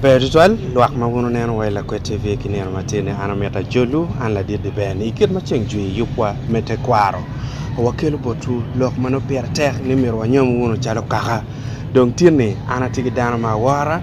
Ber tutwal lwak ma wun wuneno wa i Lakwed TV ki nino matini. An omyero ajolwu, an ladit Dibeni. I kit ma ceng jwi yubwa me tekwaro, wakelo botwu lok ma nongo pire tek ni myero wanyom wunu calo kaka. Dong tinni an atye ki dano ma awora,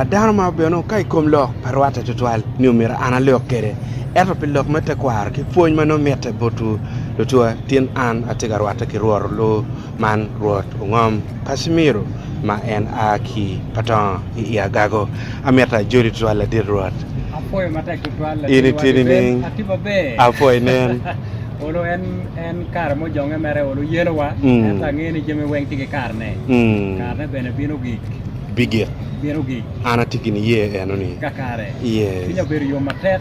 dano ma obedo nongo ka i kom lok pe rwatte tutwal ni omyero an alok kwede. Ento pi lok me tekwaro ki pwony ma nongo mitte botwu lucwa, tin an atye ka rwatte ki Rwot. Man Rwot ongom Kacimiro ma en a ki pa tongo i i agago, amito ajoli tutwal ladit Rwot. Apwoyo matek tutwal In i tye nining? Ati maber. Apwoyi nen. Olo en en kare mujonge mere olo yelowa. Mm. Ento angeyo ni jami weng tye ki karne. Mm. Karne bene bino gik. Bigik. Bino gik. An ati gini ye eno ni. Kakare. Yes. Pinya obedo yom matek.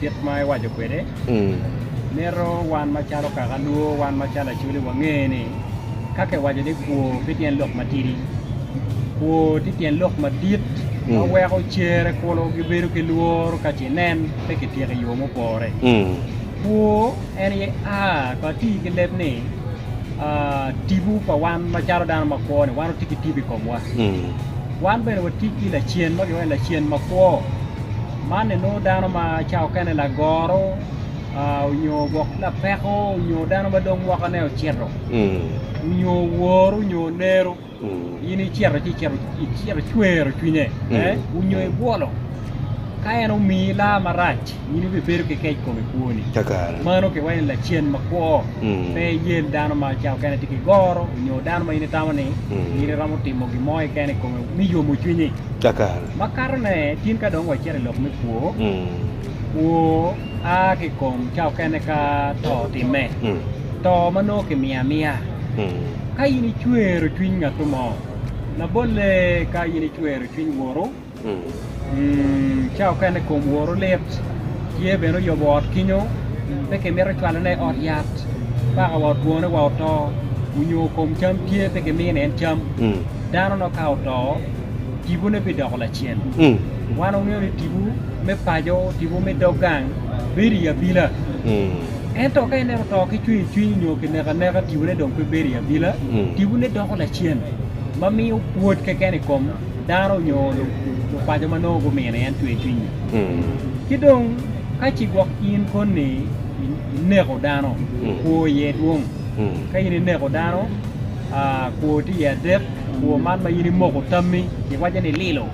kit ma ewaco kwede, mito wan macalo kaka lwor, wan macalo acoli wange ni ka kiwaco ni kwo pe tyen lok matidi, kwo tye tyen lok madit ma weko cere kulu gibedo ki lworo ka ce nen pe kityeko i yo mupore. Kwo en aye a, ka ati ki leb ni ah, tipo pa wan macalo dano ma kwo-ni, wan watye ki tipo i komwa. Wan bene watye ki lacen ma kilwongo ni lacen makwo. Man enongo dano ma cawa okene lagoro nyo gwok ki lapeko nyo dano ma dong mwakane ocito nyo oworu nyo oneru in icito ci icito icwero cwinye nyo ibwolo ka en omiyi laa marac in ibibedo ki kec kom i kwoni mano kiwaco ni lacen makwo pe iyel dano ma cawa okene tye ki goro nyo dano ma in itamo ni in iromo timo gin mo keken i kome me yomo cwinyi. Cakare. Makato ne tin ka dong wacito i lok me kwo, kwo a ki i kom ca okene ka to otimme, to ma nongo ki miyo amiya. Ka in icwero cwiny ngatu mo, labolle ka in icwero cwiny woru, ca okene kom woru lit, tye bene oyobo ot kinyo, pe ki mito cwalo ne i ot yat, paka wa otwone wa oto, onyo kom cam tye pe ki mine en cam, dano no ka oto, tipone bidoko lacen. Mm. Wan wangeyo ni tipo me paco, tipo me dog gang bedo i abila. Mm. Ento ka ineno to ki cwinyo cwiny nyo ki neka neka tipone dong pe bedo i abila, mm. tipone doko lacen ma miyo pwod keken i kom dano nyo lupaco ma nongo gumino en cwinyo cwiny. Mm. Ki dong ka ci gwok in koni ineko dano, mm. kwo iye dwong. Ka in ineko dano, kwo tye iye adek, kwo man ma in imoko tammi kiwaco ni lilo,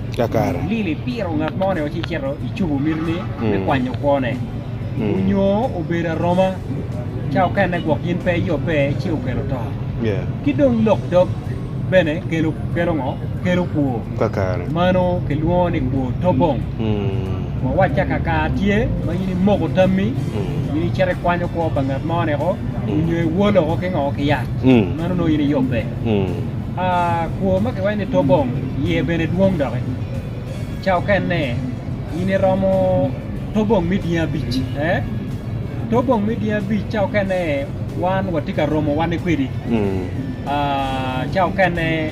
lilo ipiro ngat mo-ni ci icito icubo mitini me kwanyo kwone, onyo obedo aroma ca okene gwok in pe iyobbe ci okelo to. Ki dong lok dog. bene kelo ngo? Kelo kwor. Mano kilwongo ni kwor tobong. Wawacca ka kare tye ma in imoko tammi in icito ikwanyo kwo pa ngat mo neko nyo iwol woko ki ngo? Ki yat. Mano nongo in iyubbe. Kwor ma kiwaco ni tobong iye bene dwong doki. Ca okene in iromo tobong me dyangi abic ee. Tobong me dyangi abic ca okene wan watye ka romo wane kwedi. Ca okene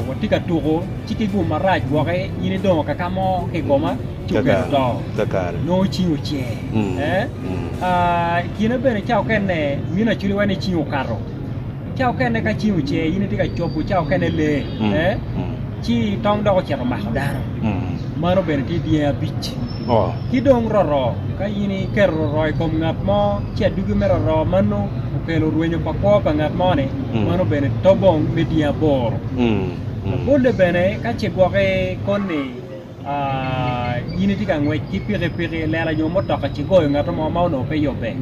watye ka tuko ci ki gum marac gwoki in idongo kaka mo ki i koma ci okelo to, nongo cingi ocer. I kine bene ca okene mini acwili wene cingi okato, ca okene ka cingi ocer in itye ka cobo ca okene lee ci tong dok ocito mako dano, mano bene tye dyangi abic. Ki dong roroo, ka in iketo roroo i kom ngat mo, ci adugi me roroo mano okelo rwenyo pa kwo pa ngat mo-ni, mano bene to bong me dye aboro. Labolle bene, ka ce gwoki koni in itye ka ngwec ki pikipiki, lela nyo mutoka ci goyo ngat mo ma onongo pe yubbe,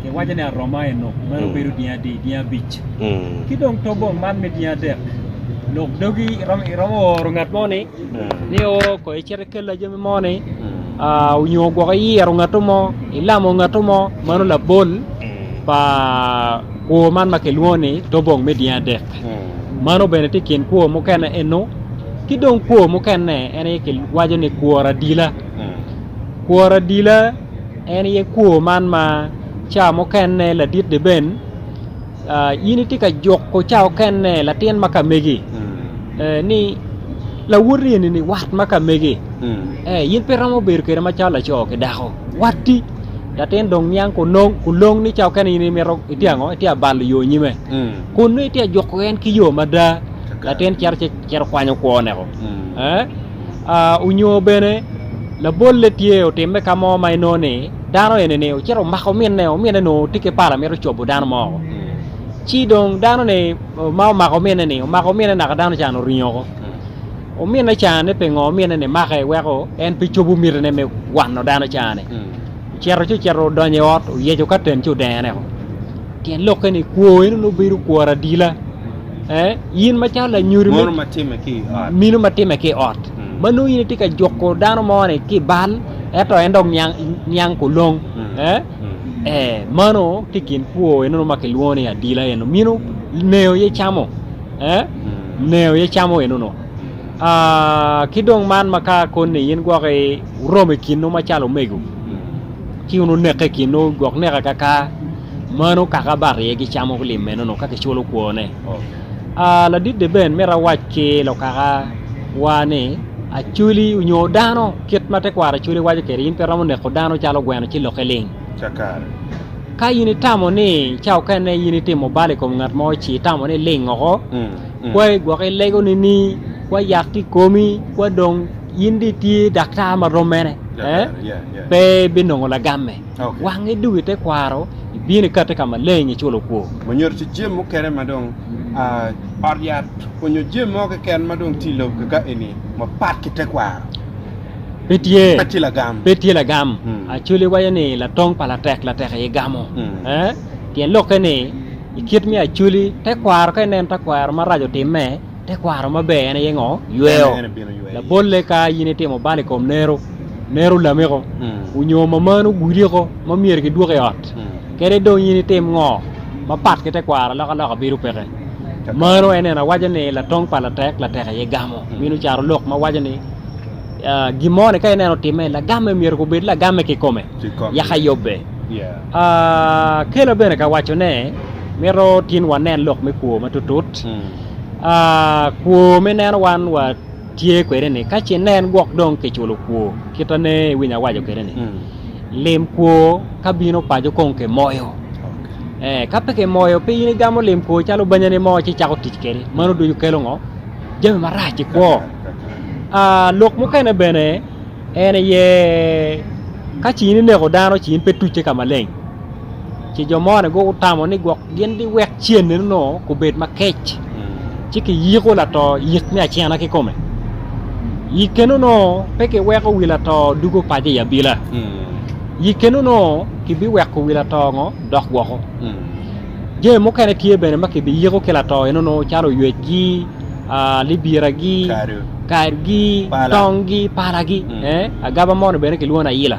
kiwaco ni aroma eno, mano bedo dye adi, dye abic. Ki dong to bong man me dye adek, lok dogi iromo oro ngat mo-ni. ni o kong icit ikel la jami mo ni onyo gwok iyiro ngato mo ilamo ngato mo mano labol pa kwor man ma kilwongo ni tobong me dyangi adek mano bene tye ikin kwor mukene eno ki dong kwor mukene en aye kiwaco ni kwor adila kwor adila en aye kwor man ma ca mukene ladit deben in itye ka juko ca okene latin ma ka megi ni lawoti eni wat ma ka megi in pe iromo bedo kwede macalo laco ki dako watti latin dong niang kulong ni ca okene in imito itye ango itye ka balo yo nyime kun nongo itye ka juko en ki yo mada latin cito ci cito kwanyo kwone ko onyo bene labolle tye otimme ka mo ma inongo ni dano eni ocito omako ominne, ominne nongo tye ki pala mito cobo dano mo. Ci dong dano ni ma omako ominne ni omako ominne naka dano can oringo ko. Ominne can ni pingo ominne ni make weko en pe cobo miti ne me wano dano can ni. Ocito ci ocito odonyo i ot oyeco katen ci odengo ne ko. Tyen lok ni kwo eno no bedo kwor adila. Eh, yin macalo lanyuri minu matime ki ot. Minu matime ki ot. Manu yin iti ka juko dano mo ni ki bal. ento en dong niang kulong mano tye kin kwo eno ma kilwongo ni adila eno mino neo ye camo neo ye camo eno no ki dong man ma ka koni in gwok oromo ikinu macalo omego ci wun oneke ikinu gwok neka kaka mano kaka bat iye gicamo lim eno no ka kiculo kwone Ladit Deben myero awac ki lukaka wa ni acholi nyo dano kit ma tekwaro acholi waco kwede in pe iromo neko dano calo gweno ci lokke ling. Ka in itamo ni ca okene in itimo bal i kom ngat mo ci itamo ni ling oko mm, mm. kwai gwok ilego nini kwa yak ki komi kwa dong in di tye daktar ma rom mene eh? pe binongo lagamme. wangi dong i tekwaro ibino ikate kama leng iculo kwor. Ma nyuto ci jami mukene ma dong ot yat onyo jami mo keken ma dong tye i lobo kika eni ma pat ki tekwaro. Pe tye. Pe tye lagam. Pe tye lagam. Actually iwaco ni latong pa latek latek aye gamo. Pien lokke ni ikit me actually tekwaro ka ineno tekwaro maraco timme. Tekwaro maber en aye ngo? Yweo. Labolle ka in itimo bal i kom nero, nero lamiko, onyo mamanu gudiko ma myero gidwok i ot, kede dong in itim ngo ma pat ki tekwaro alokaloka bedo peke. Mano en neno awaco ni latong pa latek, latek aye gamo. Minu caro lok ma waco ni gin mo ni ka ineno otime, lagamme myero ko bed lagamme kikome, yaka yobbe. Kela bene ka waco ne mito tin wanen lok me kwo ma tutut. kwo me neno wan wa tye kwede ni ka ce nen gwok dong ki culo kwo kita ne iwinyo awaco kwede ni lim kwo ka bino paco kong ki moyo ka pe ki moyo pe in igamo lim kwo calo banyani mo ci cako tic kwede mano ducu kelo ngo jami marac i kwo lok mukene bene en aye ka ci in ineko dano ci in pe tucce ka maleng ce jo mo ni gutamo ni gwok gin giwek cene no kubed makec ci kiyiko lato yik me acena ki kome yikkeno no pe kiweko wi lato dugo pace i abila yikkeno no kibiweko wi lato ngo dok woko jami mukene tye bene ma kibiyiko ki lato eno no calo ywecgi libiragi kargi tongi palagi agaba mo ni bene kilwongo ni ayila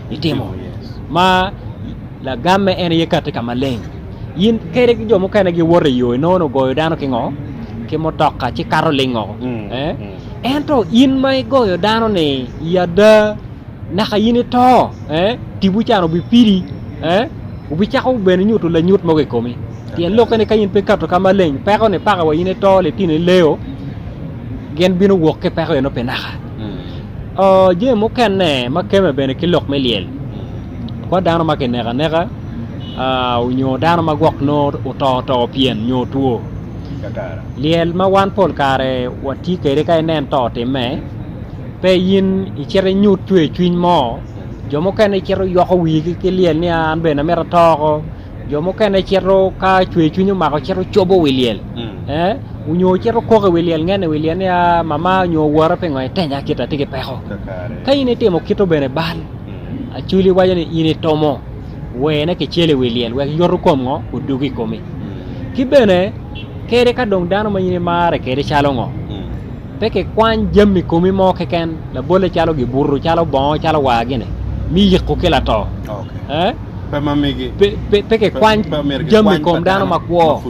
itimo ma lagamme en aye kati ka maleng in kede ki jo mukene giwoto i yo inongo ni ogoyo dano ki ngo ki mutoka ci kato lingo eh? ento in ma igoyo dano ni i ada naka in ito eh? tipo can obipidi eh? obicako bene nyuto lanyut mogo i komi pien lokke ni ka in pe ikato ka maleng peko ni paka wa in ito litino ileo gin bino wok ki peko eno pi naka Jami mukene ma kemme bene ki lok me lyel ki dano ma kineko aneka nyo dano ma gwok nongo oto oto pyem nyo otwo. Lyel ma wan pol kare watye kwede ka inen to otimme pe in icito inyut cwercwiny mo jo mukene gicito giyoko wigi ki lyel ni an bene amito ato oko. jo mukene cito ka cwercwiny omako cito cobo wi lyel onyo cito kok i wi lyel ngen i wi lyel niya mama nyo wora pingo itenya kit atye ki peko ka in itimo kito bene bal acwili waco ni in itomo wene kicel i wi lyel wek yoto kom ngo odog i komi ki bene kede ka dong dano ma in imare kede calo ngo pe kikwany jami komi mo keken labole calo gibuto calo bongo calo war gini mi yiko ki lato pe kikwany jami i kom dano makwo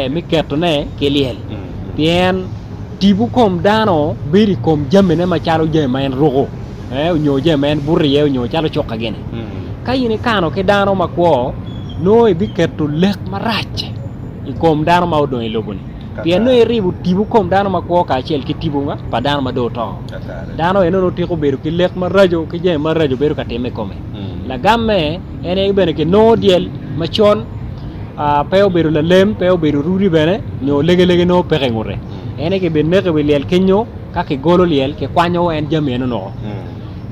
me ketone ki lyel, pien tipo kom dano bedo i kom jamine macalo jami ma en ruko nyo jami ma en buto iye nyo calo cuka gini. Ka in ikano ki dano makwo nongo ibiketo lek marac i kom dano ma odong i lobo-ni pien nongo iribo tipo kom dano makwo kacel ki tipo pa dano ma dong oto. Dano eno nongo tiko bedo ki lek maraco ki jami maraco bedo ka timme i kome. Lagamme en aye bene kinongo dyel macon pe obedo lalem pe obedo rudi bene nyo legelege nongo peke ingute en aye kibineko iwi lyel kenyo ka kigolo lyel kikwanyo en jami eno nongo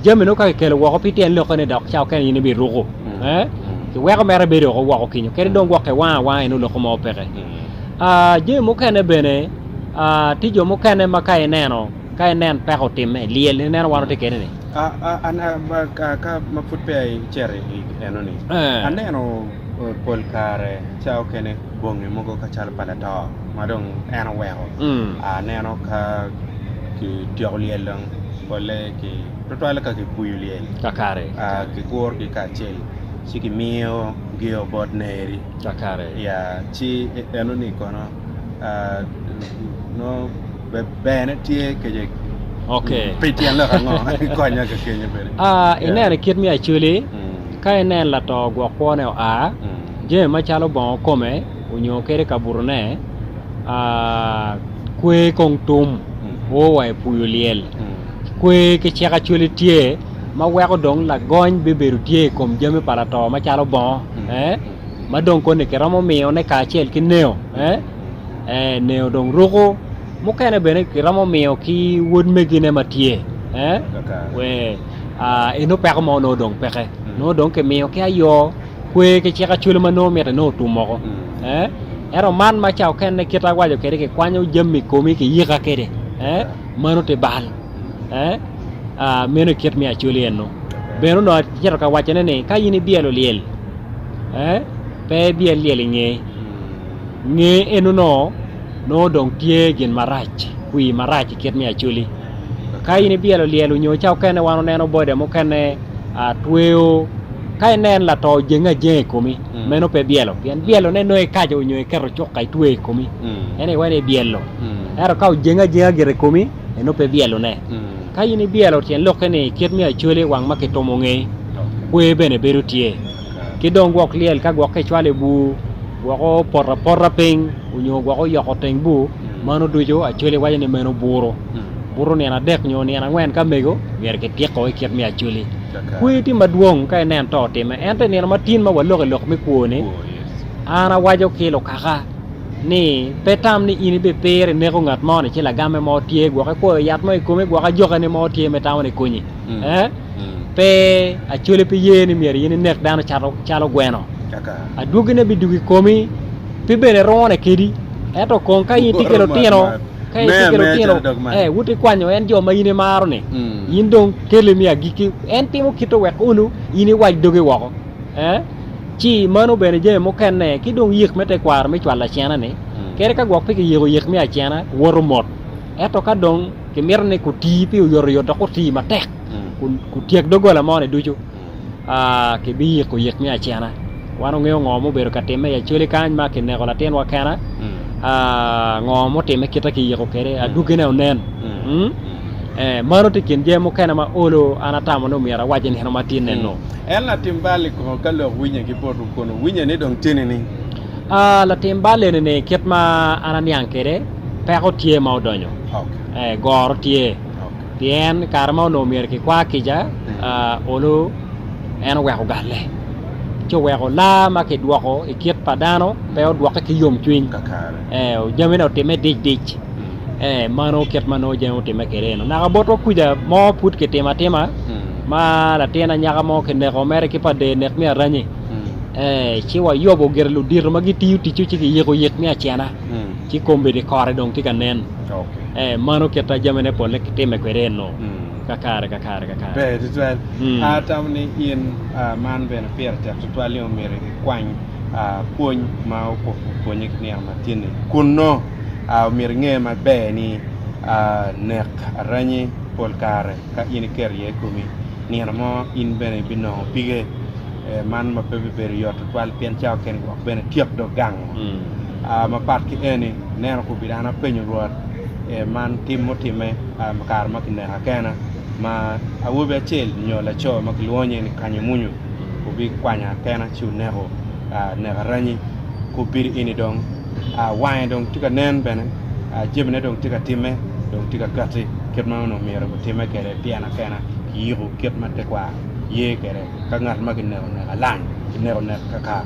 jami nongo ka kikelo woko pe ityen lokke ni dok cawa kene in ibiruku kiweko mere bedo oko woko kenyo kadi dong gwok kiwango awanga eno lokke mo peke jami mukene bene tye jo mukene ma ka ineno Ka inen peko otimme, lyel. Ineno wan watye kene ni. Ka ma pud peya icito i enoni, aneno pol kare ca okene bongi mogo ka calo pa lato ma dong en oweko. Aneno ka ki tyeko lyel dong pole ki twatwal ka ki puyu lyel Kakare. ki guru gi kacel ci ki miyo gi o bot ne eri. Kakare. Ya ci enoni kono nongo. ineno i kit me Acholi, ka ineno lato gwok kwone oa, jami macalo bongo kome onyo kadi kabutone kwe kong tum o wa i pii olyel, kwe ki cik Acholi tye ma weko dong lagony bibedo tye i kom jami pa lato macalo bongo ma dong koni kiromo miyone kacel ki neo. ee ne odong ruku mukene bene kiromo miyo ki wod megine ma tye ee wee eno peko mo nongo dong peke nongo dong kimiyo ki ayo kwe ki cik acwele ma nongo mite nongo otum moko ee ento man ma ca okene kit awaco kede kikwanyo jami komi ki yika kede ee mano ti bal ee meno kit me acwele eno bene onongo acito ka wacone ni ka in ibyelo lyel ee pe ibyel lyel inge Nge enono, nongo dong tye gin marac, kwir marac i kit me Acholi. Ka in ibyelo lyel onyo ca okene wan oneno boda mukene a tweyo ka inen lato jenge ajenga i komi, meno pe byelo. Pien byelone nongo ikaco onyo iketo cuka itweyo i komi, eno iwa ni ibyelo. Ento ka ojenge ajenga gire i komi, eno pe byelone. Ka in ibyelo tyen lokke ni i kit me Acholi wang ma kitumo ngei, kwer bene bedo tye. Ki dong gwok lyel ka gwok ka icwalo i bur, Gwoko poto apota piny onyo gwoko yoko teng bur, mano ducu Acholi waco ni meno buro. Buto nino adek nyo nino angwen ka mego myero ki tiko i kit me Acholi. Kweyo tye madwong ka inen to otime ento i nino ma tin ma waloko i lok me kwo ni, an awaco ki lukaka ni pe tam ni in ibi piro ineko ngat mo ni ci lagame mo tye gwok ikwoyo yat mo ikome gwok ajoka ni mo tye me tamo ni konyi. Pe acwali pi ye ni myero in inek dano calo gweno. Adwogine bidwogo i komi, pe bene rwone kedi. Ento kong ka in itye ki lutino, ka in itye ki lutino, eh, wot ikwanyo en jo ma in imaro-ni. In dong kele me agikki. En timo kite wek unu in iwac dogi woko. Eh? Ci mano bene jami mukene, ki dong yik me tekwaro me cwalo acena-ni. Kadi ka gwok pe kiyiko yik me acena, woto mot. Ento ka dong kimito ni kuti pi oyotoyot dok oti matek. kutyek doggola moni ducu kibiyiko yik me acena wan wungeyo ngo ma obedo ka timme i acwali kany ma kineko latinwa kena ngo ma otimme kita kiyiko kwede adwogine onen mano tye kin jami mukene ma olo an atamo ni omyero awac i nino ma tye nenu En latim bal i kor ka lok winye ki poto kun owinye ni dong tye nining? latim bal eni-ni kit ma an aniang kwede peko tye ma odonyo goro tye Pien i kare ma onongo myero kikwa kica, olu en oweko galle, ci oweko laa ma kidwoko i kit pa dano pe odwokke ki yomcwiny. Ee, jamine otimme dic dic. Ee, mano kit ma nongo jami otimme kwede eno. Naka botwa kuca mo pud kitimo atima ma latin anyaka mo kineko mere ki pa dee nek me aranyi. Ee, ci wayobo gire ludito ma gitiyo ticce ci kiyiko yik me acena, ci kombeddi kore dong tye ka nen. Mano kit ma jamine polle timme kwede ennu, ka kare ka kare ka kare. Ber tutwal. Atamo ni in man bene pire tek tutwal ni omyero ikwany pwony ma opwonye ki nino ma tye-ni. Kun nongo omyero inge maber ni nek aranyi pol kare ka in iketo iye i komi, nino mo in bene ibinongo pige. Man ma pe bibedo yot tutwal pien cawa kene gwok bene tyek dong gango. Mapat ki eni, ineno kobeddi dano apenyo Rwot man tim mutimme i kare ma kineko akena ma awobi acel nyo laco ma kilwongo nying ni Kanyemunyu obikwanya kena ci oneko nek aranyi. Kobeddi eni dong wange dong tye ka nen bene, jamine dong tye ka timme dong tye ka katti kit ma onongo myero otimme kwede tyen akena ki yiko kit ma tekwaro ye kwede. Ka ngat ma kineko nek alang, kineko nek kakar.